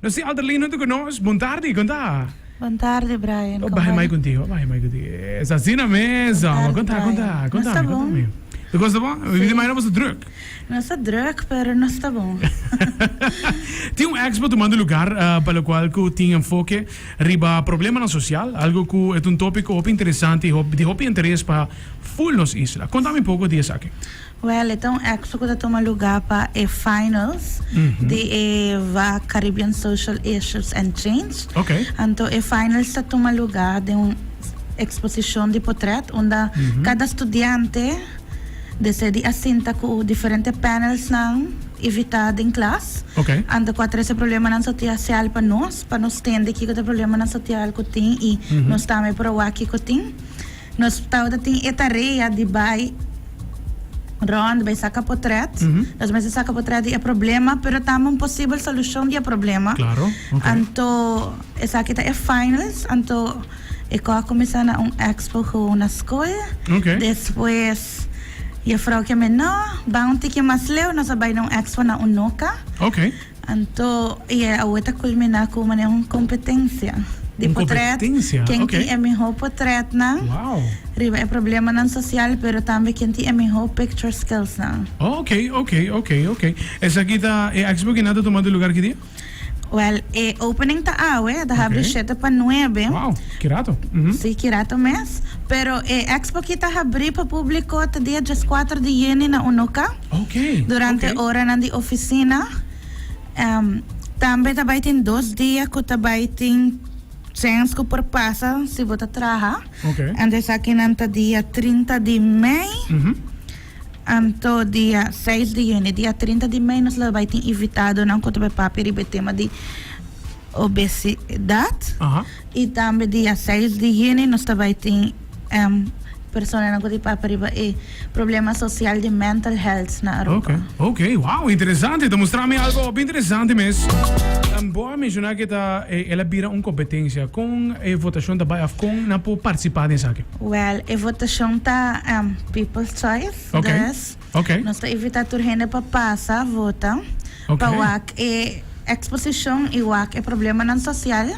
No sin Alderlino tu cu nos. Bon tardi, con ta? Bon tardi Brian, con ta? Bahe mai contigo, bahe mai contigo. Es asina mes, amo. Con ta, con ta? Con ta mi, con ta mi. Tu cosa bon? Mi mira mai no boso druk. Nos ta druk, pero nos ta bon. Tin un expo tumando lugar pa locual cu tin enfoke riba problemanan social, algo cu e ta un topico hopi interesante y di hopi interes pa full nos isla. Con ta mi poco di esaki. Wèl, e ta un èkso ku ta tuma lugá pa e finals di e va Caribbean Social Issues and Change. Anto e finals ta tuma lugá den un eksposishon di potrèt unda kada studiante desidi a sinta ku diferente panelsnan ivitá den klas. Anto kua trese problemanan sotiasial pa nos, pa nos tende kiko ta e problemanan sotial ku tin i nos tambe por a wak kiko tin. Nos tau ta tin e tarea di bai rond, bai saca potret. Nos mester saca potret di e problema, pero tambe un posibel solucion di e problema. Claro, ok. Anto esaki ta e finals, anto e cos a cuminsa na un expo gewoon na school. Ok. Despues Juffrouwtje Menor, bai un tiki mas leu, nos a bai na un expo na Unoca. Ok. Anto e awe ta kulminá ku manera un kompetensia di potrèt. Ken tin e mihó potrètnan riba e problemanan sosial, pero tambe ken tin e mihó picture skillsnan. Oke, oke, oke, oke. Esaki ta e expo kina ta tuma di lugar ki dia? Wèl, e opening ta awe, e ta habri shete pa nuebe. Wou, ki rato. Sí, ki rato mes. Pero e expo ki ta habri pa públiko ta dia djaskuater di yuni na Unoka. Durante oranan di oficina. Tambe ta bay tin dos dia cu ta bay tin chens cu por pasa si bo ta traha. Anto esaki nan ta dia trinta di mei anto dia seis di juni. Dia trinta di mei nos lo bay tin invitadonan cu ta bay papia riba e tema di obesidad. Y tambe dia seis di juni nos ta bay tin personanan cu tin papia riba e problema social di mental health na Aruba. Ok, ok, wow, interesante, ta mustra mi algo hopi interesante mes. Bo a menciona cu ta el a bira un competencia, con e votacion ta bay of con nan por participa den esaki? Well, e votacion ta people's choice, dus nos ta invita tur hende pa pasa vota. Pa wak e eksposishon i wak e problemanan sosial,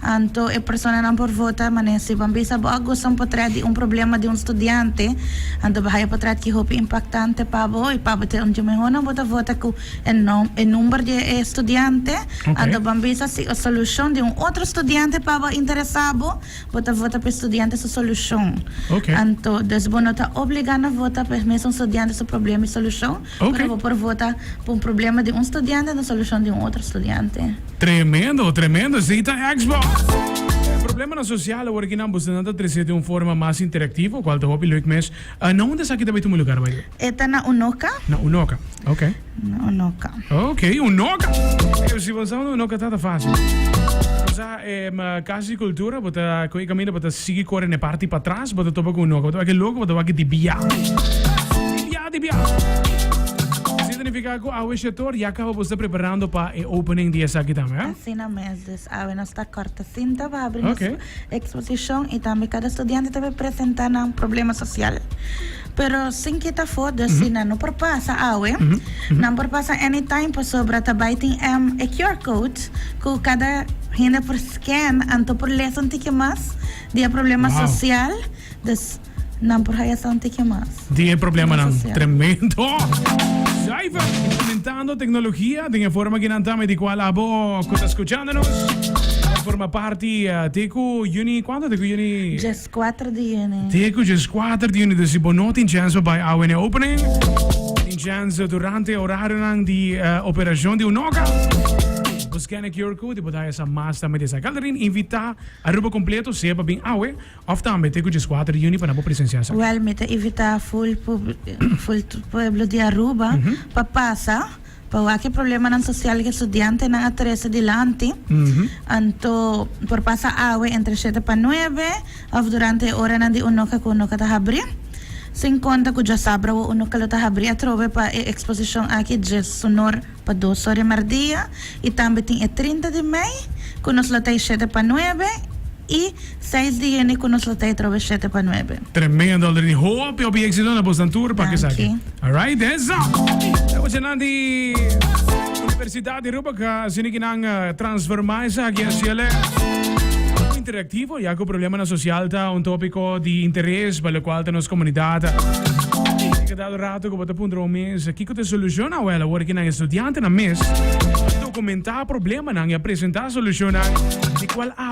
anto e personanan por vota manera si ban bisa bo a gosa un potrèt di un problema di un studiante, anto bo haya potrèt ki hopi impaktante pa bo i pa bo ta un di e mehónan bo ta vota ku e nom, e number di e studiante, anto ban bisa si e solushon di un otro studiante pa bo a interesá bo, bo ta vota pa e studiante su solushon. Anto, dus bo no ta obligá na vota pa e mesun studiante su problema i solushon. Pero bo por vota pa un problema di un studiante na solucion di un otro studiante. Tremendo, tremendo. Esei ta Xbox. E problemanan social awor ki nan boso nan ta trese di un forma mas interactivo, cual ta hopi leuk mes. Na unda esaki ta bai tuma lugar, by the way? E ta na Unoca. Na Unoca, ok. Na Unoca. Ok, Unoca. Ey, si bo no sa unda Unoca ta, ta facil. Bo sa. Casi Cultura bo ta cu e caminda bo ta sigui core n'e parti patras bo ta topa cu un oca bo ta wak e logo bo ta wak di bia di bia di bia significa cu awe shetor ya caba bo sta preparando pa e opening di esaki tambe eh. Asina mes dus awe nos ta corta cinta pa abri nos exposición y tambe cada studiante ta por presenta nan problema social. Pero sin kita afo dus si nan no por pasa awe, nan por pasa anytime pasobra ta bai tin em e QR code ku kada hende por scan anto por lesa un tiki mas di e problema sosial, dus nan por haya sa un tiki mas. Di e problemanan. Tremendo! Zuiver implementando teknologia den e forma ki nan ta, me di kual abo ku ta skuchando nos por forma parti te ku Juni kuantu te ku Juni? Skuater di juni. Te ku dje skuater di juni, dus bo no tin chèns pa bai awe n'e opening. Tin chèns durante orarionan di operashon di unoka. Bo skène QR code i bo dai esnan mas tambe di esai. Kalderin invitá Aruba kompleto sea pa bin awe òf tambe te ku dje skuater di juni pa nan bo presensiá esaki. Wèl mi ta invitá ful pub ful pueblo di Aruba pa pasa. Pa wak e problemanan sosial ku e studiantenan a trese dilanti, anto por pasa awe entre shete pa nuebe òf durante e oranan di unoka ku unoka ta habrí. Sin konta ku djosabra awor unoka lo ta habrí atrobe pa e eksposishon aki dje sunor pa dos ora di mardia i tambe tin e trinta di mei ku nos lo ta e shete pa nuebe. y seis di hende cu nos lo ta etrobe shete pa nuebe. Tremendo Aldrin y hopi hopi exito na Boston Tour pa kesaki alright eso ta cu nan di universidad di Aruba ca asina ki nan transforma esaki a ciele algo interactivo ya cu problema na social ta un topico di interes pa locual ta nos comunidad y cada rato cu bo ta puntra un mes kico ta e solucion awel awor ki nan estudiantenan mes ta documenta problemanan y a presenta solucionnan di cual abo.